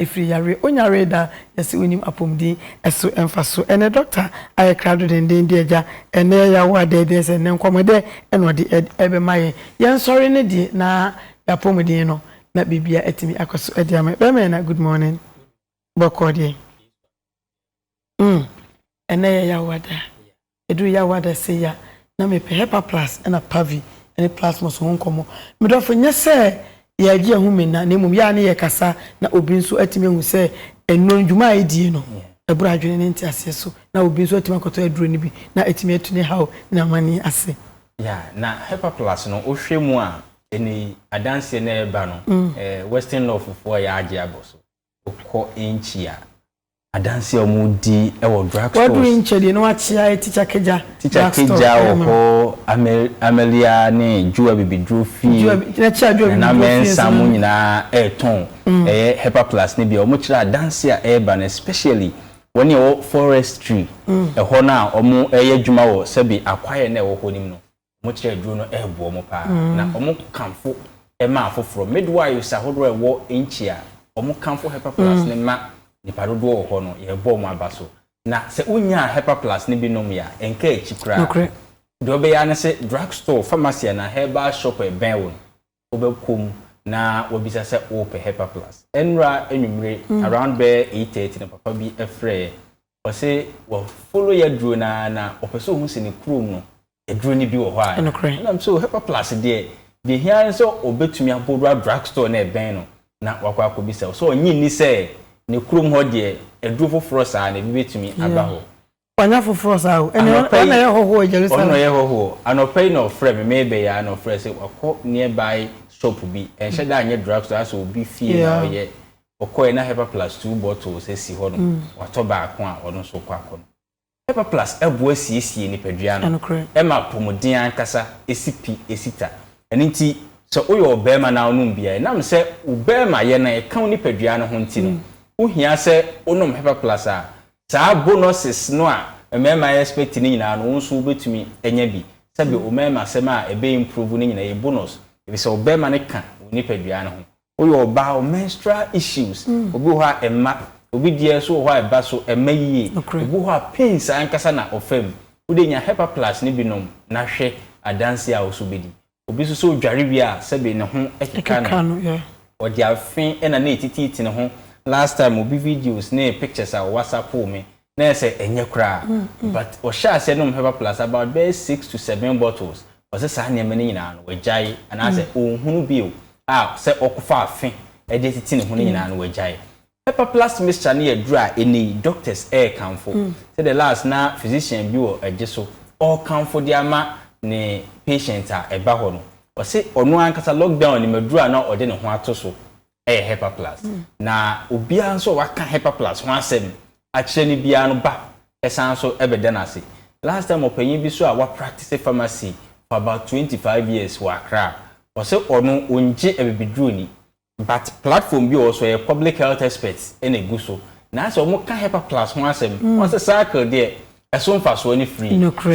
Ɛfiri yareɛ ɔnyaree da yɛse ɔnim apɔmuden ɛso mfaso ɛnɛ doctor ayɛ krado denden de agya ɛnɛ yawo ada ɛdeɛ ɛsɛ ɛnɛ nkɔmɔ dɛ ɛna ɔde ɛbɛma yɛn yɛn sɔre ne deɛ na yapɔmuden no na biribiara atumi akɔso ɛde ama yɛn bɛɛma ɛna good morning bɔkɔɔ deɛ mm ɛnɛ yɛ yawo ada. Ɛduru Yawada sei a, na mepɛ Hepa Plus ɛna Pavi ne Plasmos ho nkɔmmɔ. Me dɔfo, nyɛ sɛ yɛagye yɛn ho menna, na mmom yɛ ara ne yɛkasa na obi nso atumi ahu sɛ nnuro no, dwuma a ɛdie no, ɛboro adwene ne nteaseɛ so, na obi nso atumi akɔtɔ aduro no bi na atumi atu ne haw ne n'amanneɛ ase. Ya, na Hepa Plus no, wohwɛ mu a, ɛnnɛ yi, adanseɛ no a ɛreba no, Western Lawfofoɔ a yɛagye abɔ so, wokɔ nkyia. Adanse a wɔredi wɔ drug stores. Waduru Nkyedi na wakyea Teacher Kegya drug store. Teacher Kegya wɔ hɔ, Amelia ne Joel bɛbɛduru fie. Nana Mensah mo nyinaa retɔn ɛyɛ Hepa Plus no bi a wɔkyerɛ adanse a ɛreba no especially wɔn a ɛwɔ forestry ɛhɔ no a wɔyɛ adwuma wɔ sɛbe akwaeɛ no a ɛwɔ hɔ no mu no. Wɔn kyerɛ aduro no reboa wɔn paa, na wɔkamfo ma afoforɔ. Midwives ahodoɔ a ɛwɔ Enchi a wɔkamfo Hepa Plus no ma nnipa dodoɔ wɔ hɔ no, yɛrebɔ wɔn aba so. Na sɛ wonyaa Hepa Plus no bi nomee a, ɛnkaa akyi koraa. Deɛ wobɛyɛ ara ne sɛ, drug store, pharmacy anaa herbal shop a ɛbɛn wo no, wobɛkɔ mu na wabisa sɛ wopɛ Hepar Plus. Nnora anwummere, around bɛyɛ eight thirty na papa bi frɛeɛ. Ɔse wa follow y'aduro no ara na ɔpɛ sɛ ɔhu sɛ ne kurom no aduro no bi wɔ hɔ a. Nokorɛ. Ɛna mesɛ oh, Hepar Plus deɛ, deɛ ɛhia ara ne sɛ ɔbɛtumi abɔ wura drug store no a ɛbɛn no na wakɔ akɔbisa. Ɔse ɔnnye nni sɛ ne kurom hɔ deɛ aduro foforɔ saa no, ebi bɛtumi aba hɔ. Wanya foforɔ saa o. Ɛnneɛ Anɔpa ɔno na yi, ɛyɛ hɔhoɔ wɔ ɔno na Jerusalem. ɔyɛ hɔhoɔ. Anɔpa yi na ɔfrɛɛ me, merebɛyɛ ara na ɔfrɛɛ sɛ wakɔ nearby shop bi, ɛnhyɛ da nyɛ drug store, ayɛ sɛ obi fie na Yeah. ɔyɛ. Ɔkɔeɛ na Hepa Plus two bottles si hɔnom, watɔ baako a ɔno nso rekɔ akɔ no. Hepa Plus boa siesie nipadua no, Ɛnokorɛ. ɛma apɔmuden ankasa, ɛsi pi, ɛsi ta. Ɛno nti, sɛ woyɛ ɔbarima na wonom bi a, ɛnam sɛ wo barimayɛ no ɛka wo nipadua no ho nti no, wohia sɛ wonom Hepa Plus a Saa bonuses no a mmarima expect no nyinaa no wo nso wobɛtumi anya bi. Sɛbe ɔmarima asɛm a ɛbɛ improve no nyinaa ɛyɛ bonus ɛfisɛ ɔbarima no ka wo nipadua no ho. Woyɛ ɔbaa wo menstrual issues obi wɔ hɔ a ɛmma, obi deɛ nso wɔ hɔ a ɛba so ɛmma yie, obi wɔ hɔ a pains ankasa na ɔfa mu. Wo deɛ nya Hepa plus no bi nom na hwɛ adanseɛ a wo nso wobɛdi. Obi nso sɛ ɔdware wie a sɛbe ne ho keka no. Ɛkeka no, yeah. Ɔde afe na na ɛtitiiti ne ho. Last time obi videos ne pictures a ɔwhatsappoo me, na ayɛ sɛ ɛnyɛ koraa. But ɔhyɛɛ aseɛ nom herbal plus about bɛyɛ six to seven bottles. Ɔse saa nneɛma no nyinaa no wagyae anaasɛ ɔnhunu bio a sɛ ɔkofa afe de atiti ne ho no nyinaa no wagyae. Pepper plus mixture no yɛ aduru a ɛnnɛ yi doctors rekamfo sɛ the last na physician bi wɔ agye so ɔrekamfo de ama ne patient a ɛba hɔ no. Ɔse ɔno ankasa lockdown nim aduru a na ɔde ne ho ato so yɛ Hepar plus. Na obiara nso a waka Hepar plus ho asɛm akyerɛ no biara no ba san nso bɛda no ase. Last time ɔpanyin bi nso a wa practice pharmacy for about twenty five years wɔ Accra, ɔse ɔno ɔngye abibiduru nni. But platform bi wɔ hɔ so ɔyɛ public health expert na egu so na asɛ ɔmo ka hepa plus ho asɛm ɔn sɛ cycle deɛ ɛso nfasoɔ no free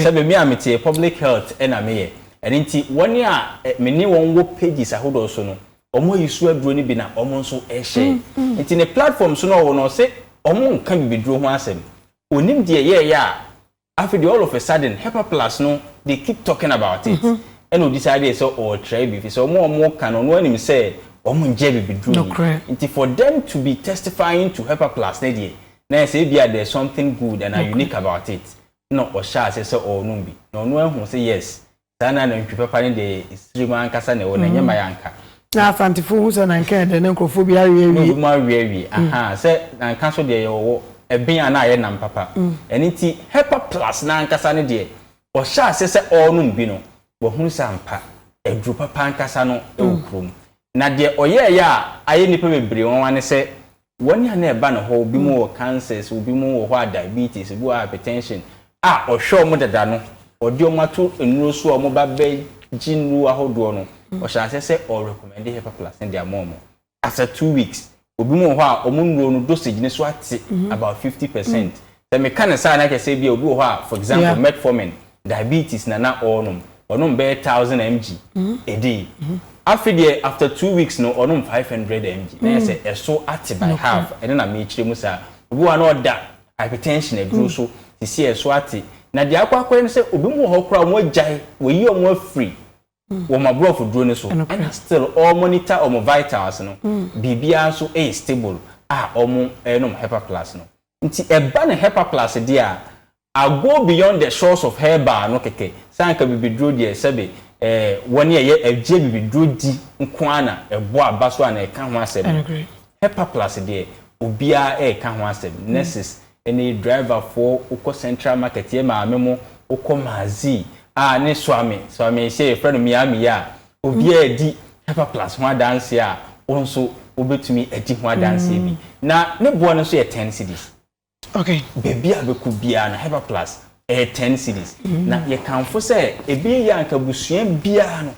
sɛ me me a meteɛ public health na meyɛ ɛno nti wɔn a me ne wɔn wɔ pages ahodoɔ so no ɔmo ayi so aduro no bi na ɔmo nso share nti ne platform so na ɔwɔ no ɔse ɔmo nka bibiduro ho asɛm onim deɛ yɛɛyɛ a Afei deɛ all of a sudden Hyper Plus no they keep talking about it ɛna ɔdi saa deɛ sɛ ɔrekyerɛ bi fisɛ ɔmo a ɔmo ka no ɔno ara nim sɛ ɔmo ngyɛ bibiduro yi nti for them to be testifying to Hyper Plus no deɛ na ayɛ sɛ ebia there's something good and unique about it ɛna ɔhyɛɛ aseɛ sɛ ɔrenom bi na ɔno ara huu sɛ yes Saa na nantwi papa no deɛ yɛ sirem ankasa na ɛwɔ na ɛnyɛ maya anka. Na Asantefo hu sɛ nanka yɛ dɛ na nkurɔfoɔ bi awe awie. Na obi mu awe awie, ahaa, sɛ nanka nso deɛ yɛ wɔ ɛben a na ayɛ nam papa. Ɛno nti Hepar Plus no ankasa no deɛ ɔhyɛ aseɛ sɛ ɔrenom bi no, wahunu sɛ ampa, aduro papa ankasa no wɔ kurom. Na deɛ ɔyɛeɛ a ayɛ nnipa bebree nwanwa ne sɛ Wɔn a na ɛba ne hɔ, ebi mu wɔ cancers, ebi mu wɔ hɔ a diabetes, ebi wɔ hɔ a hypertension, a ɔhwɛ wɔn dada no, ɔde wɔn ato nnuro so a wɔba bɛgye nnuro ahodoɔ no, ɔhyɛ aseɛ sɛ ɔrecommende Hepaplast no de ama wɔn. After two weeks, ebi mu wɔ hɔ a wɔn nnuro no dosage no so ate about fifty percent. Sɛ meka no saa a na kyerɛ sɛ ebia obi wɔ hɔ a for example Yeah. metformin, diabetes na na ɔrenom, ɔnom bɛyɛ thousand mg a day. Afe deɛ after two weeks no ɔnom five hundred mg. Na yɛ sɛ ɛso ate by Nokorɛ. half. Ɛno na merekyerɛ mu saa. Obi wɔ hɔ a na ɔda hypertension aduro so, seesei ɛso ate. Na deɛ akɔ akɔyɛ no sɛ obi mu wɔ hɔ koraa a wɔagyae, wɔayi wɔn afiri wɔ ɔmo aborɔfo duro no so ɛna still ɔɔ monitor ɔmo vitals no, biribiara nso yɛ stable a ɔmo nom Hepa plus no. Nti ɛba no Hepa plus deɛ a, I go beyond the shores of herbal no kɛkɛ, sɛ anka bibiduro deɛ sɛbe ɛɛ wɔn a ɛyɛ ɛgye bibiduro di nko ara na ɛbɔ aba so a na ɛka ho asɛm no, Hepa plus deɛ obiara ɛɛka ho asɛm, nurses ne driver foɔ wokɔ central market yɛ maame mo wokɔ mazi a ne suame suame hyɛ yɛfrɛ no miami yɛ a obiara adi hyper plus ho adanseɛ a wo nso wobɛtumi adi ho adanseɛ bi na ne boɔ no nso yɛ ten cedis okay baabi a bɛkɔ biara no hyper plus ɛyɛ ten cedis na yɛkamfo sɛ ɛbɛyɛ yie a nka abusua biara no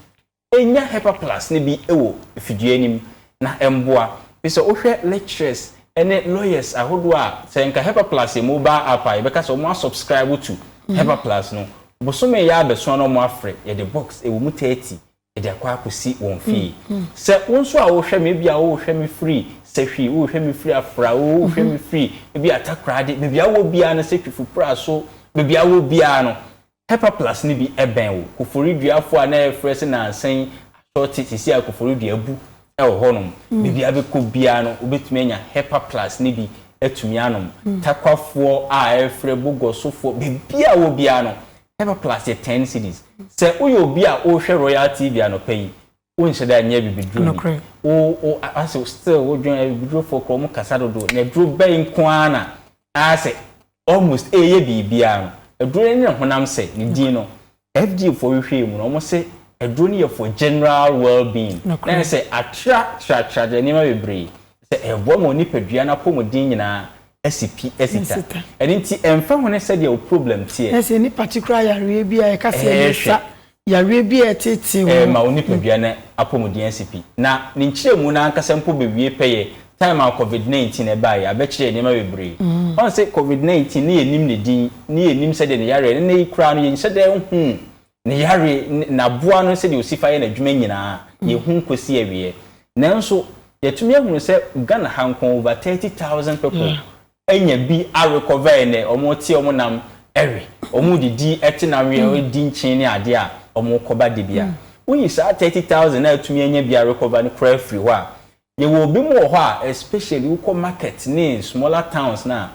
Nya Hepa Plus no bi wɔ fidua anim na mboa. Fi sɛ wohwɛ lecturers ne lawyers ahodoɔ a, sɛ nka Hepa Plus yɛ mobile app a, yɛbɛka sɛ wɔn a subscribe to Hepa Plus no, bosome yi ara bɛsoa na wɔn afrɛ, yɛde box ɛwɔ mu 30 de akɔ akɔsi wɔn fie. Sɛ wo nso a wohwɛ me, ebia wohwɛ me firi Sahwi, wohwɛ me firi Afra, wohwɛ me firi ebia Takorade, baabi a wowɔ biara no, sɛ Twifo Pra so, baabi a wowɔ biara no, Pepper Plus no bi bɛn wo. Koforidua-fo a na yɛfrɛ se nansa yi asɔɔte, sesei a koforidua abu wɔ hɔnom. Bebia bɛkɔ biara no wobɛtumi anya Hepper Plus no bi atumi anom. Takwafoɔ a ɛrefrɛ, bogɔsofoɔ, bebia wɔ biara no Hepper Plus yɛ ten cedis. Sɛ woyɛ obi a wohwɛ Royal TV anɔpa yi, Wonhyɛ da nyɛ abibiduro bi. Nokorɛ. Wo, wo, ase still wo dwen abibidurofo kora ɔmo kasa dodo na aduro bɛn nko ara na aase almost ɛɛyɛ biribiara no. Aduro no ne ne honam sɛ, ne din no. FDA foɔ hwehwɛɛ mu no ɔmo se aduro no yɛ for general well being. Na Nokorɛ. ɛsɛ atra tra tra tra nneɛma bebree. Sɛ ɛɛboa ma onipadua no apɔmuden nyinaa asi pi, asi ta. Asi ta. Ɛno nti ɛnfa ho ne sɛdeɛ wo problem teɛ. Na sɛ nipa te koraa yareɛ bi a yɛka sɛ ɛde sa. Ɛɛhwɛ. Yareɛ bi a ɛteetee ho. Ɛma wo nipadua no apɔmuden asi pi. Na ne nkyerɛmu no ankasa mpo bɛwie pɛyɛ time a covid 19 ɛbaeɛ. Abɛkyerɛɛ nneɛma bebree. Woahu sɛ covid 19 ne yɛnnim ne din, ne yɛnnim sɛdeɛ ne yareɛ, nnɛ yi koraa no yɛnhyɛ da nhuu ne yareɛ, n'aboa no sɛdeɛ ɔsi fa yɛ n'adwuma nyinaa, yɛnhu nkɔsi awieɛ. Nanso yɛatumi ahunu sɛ Ghana ha nko over 30,000 people nya bi awe kɔvɛe ne ɔmo te ɔmo nam we, ɔmo didi te na we, ɔmo di nkyen ne adeɛ a ɔmo kɔba de bia woyi saa thirty thousand a atumi anya bi awe kɔva no koraa firi hɔ a, yɛwɔ obi mo wɔ hɔ a especially wo kɔ market ne smaller towns no a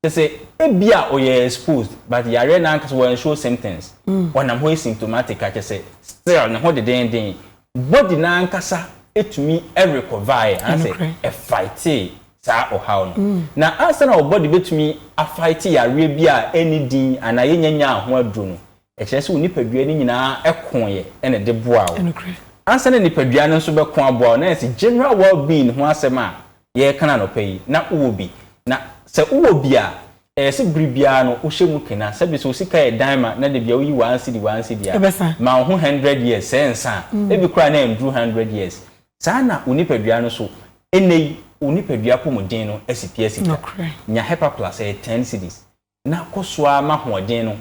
kyɛsɛ ebia ɔyɛ exposed but yareɛ no ankasa wɔ unshow symptoms, ɔnam hɔ asymptomatic a kyɛsɛ still ne ho dedenden Body no ankasa tumi recover'e anaasɛ ɛfightee saa ɔhaw no. Na ansa na wo body bɛtumi afight yareɛ bi a ɛnni din anaa yɛnnya nyaa ho aduro no, ɛkyerɛ sɛ wo nipadua no nyinaa koeɛ na ɛde boaa wo. Ansa na nipadua no nso bɛko aboa wo, na ayɛ sɛ general well being ho asɛm a yɛrekan anɔpa yi, na wowɔ bi. Na sɛ wowɔ bi a, ɛyɛ sɛ bere biara no wohyɛ mu kena. Sɛbe sɛ wo sika yɛ dan ma na da biara woyi one cedi, one cedi a, ma wo ho hundred years sɛ nsa a, ebi koraa na ɛnduru hundred years. Saa ara na wo nipadua no nso, nnɛ yi, wo nipadua apɔmuden no asi pi asi twa. Nya Hepa Plus, ɛyɛ ten cedis. na kɔ so ara ma ahoɔden no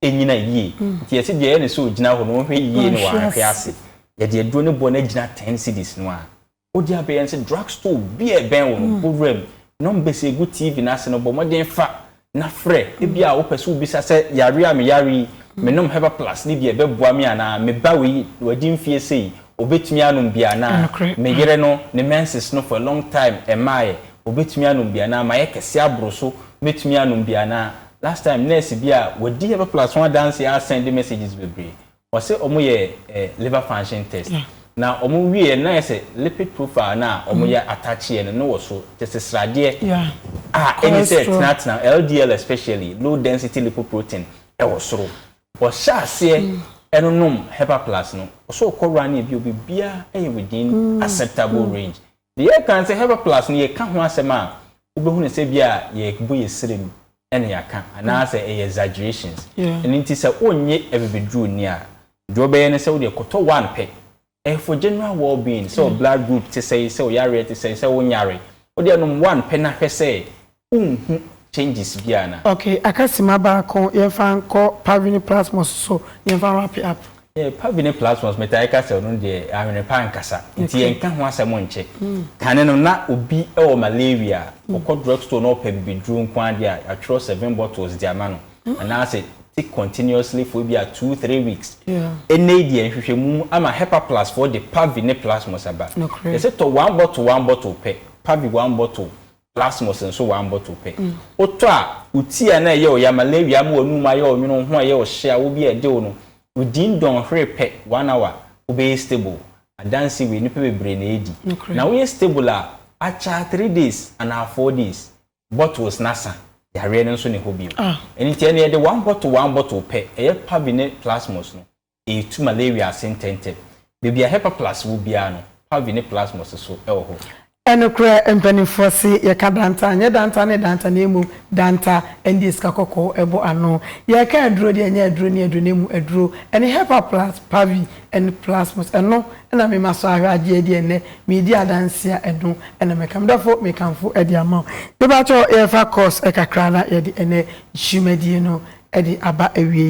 nnyina yie. Nti yɛse deɛ ɛyɛ ne sɛ ɔgyina hɔ no ɔnhwɛ yie na wahwe ase. Yɛde aduro no bɔ no agyina ten cedis no ara. Wode abɛ yɛn sɛ drug store biara a ɛbɛn wo no bɔ wura mu. Numbers a ɛgu TV no ase no bɔ mmɔden fa na frɛ. Ebi a wopɛ sɛ wobisa sɛ yareɛ a meyare yi menom Herbal Plus no bi a ɛbɛboa me anaa? Me ba wei wadi mfeɛ sei ɔbɛtumi anom bi anaa? Me yere no ne menses no for a long time ɛmmaeɛ Obetumi anom bi anaa? Mayɛ kɛse aboro so, mɛtumi anom bi anaa? Last time nurse bi a wadi Herbal Plus ho adanseɛ a send messages bebree. Ɔse ɔmo yɛ eh liver function test na ɔmo wie yɛ no na ayɛ sɛ lipid profile no a ɔmo yɛ attach yɛ no no wɔ so tese sradeɛ a ɛne sɛ tenatena LDL especially low density lipoprotein ɛwɔ soro. Ɔhyɛ aseɛ ɛnonom Herbal Plus no ɔsɛ ɔkɔ running bio bibiaa ɛyɛ within acceptable range Yɛka sɛ Herbal Plus no, yɛka ho asɛm a, wobɛhu no sɛ bi a yɛbɔ yɛ sirem na yɛaka anaasɛ ɛyɛ exaggerations. Ɛno nti sɛ wonyɛ abibiduruni a, deɛ wobɛyɛ ne sɛ wodeɛ kɔtɔ one pɛ. Ɛyɛ for general well being, sɛ wo blood group te sɛn, sɛ wo yareɛ te sɛn, sɛ wonyare, wodeɛ nom one pɛ na hwɛ sɛ wonhu changes biaa anaa? Ok aka sima baako yɛnfa nkɔ pavine plasmos so na yɛnfa wrap up. Yeah pavine plasmos metaa ka sɛ ɔno deɛ awene pa ankasa nti yɛnka ho asɛm nkyɛ. Kane no na obi wɔ malaria a ɔkɔ drug store na ɔpɛ bibiduro nko ara deɛ a yɛatwerɛ seven bottles de ama no anaasɛ take continuously for ebia two three weeks. Ɛnnɛ yi deɛ nhwehwɛmu ama Hepaplus foɔ de pavine plasmos aba. Yɛse tɔ one bottle one bottle pɛ pavi one bottle Plasmos nso one bottle pɛ. Wotɔ a, wo ti a na ɛyɛ wo ya, malaria ama w'anum mu ayɛ wo nwono, wo ho reyɛ wo hye, awɔ bi a ɛde wo no, wo din dɔn hwere pɛ, one hour, wobɛyɛ stable. Adanse wei, nnipa bebree na ɛredi. Na woyɛ stable a, akyaa three days anaa four days, bottles no asa, yareɛ no nso ne hɔ bio. Ɛno nti ɛnneɛ yɛde one bottle one bottle pɛ, ɛyɛ Pavi ne Plasmos no. Etu ma Lewi ase ntɛmntɛm. Baabi a Herpaplas wɔ biara no, Parvi ne Plasmos nso wɔ hɔ. Nokorɛ mpaninfoɔ se yɛka Danta a, nyɛ Danta ne Danta na mmom Danta ɛndeɛ sika kɔkɔɔ ɛbɔ ano. Yɛka aduro deɛ, nyɛ aduro ne aduro na mmom aduro. Ɛne Herpaplas, Parvi ne Plasmos. Ɛno na me masɔ ahwɛ agyeɛ deɛ nnɛ meredi adanseɛ a ɛno na mɛka. Me dɔfo mekamfo de ama wo. Mepakyɛw yɛmfa course kakra na yɛde ɛnnɛ dwumadie no de aba awieɛ.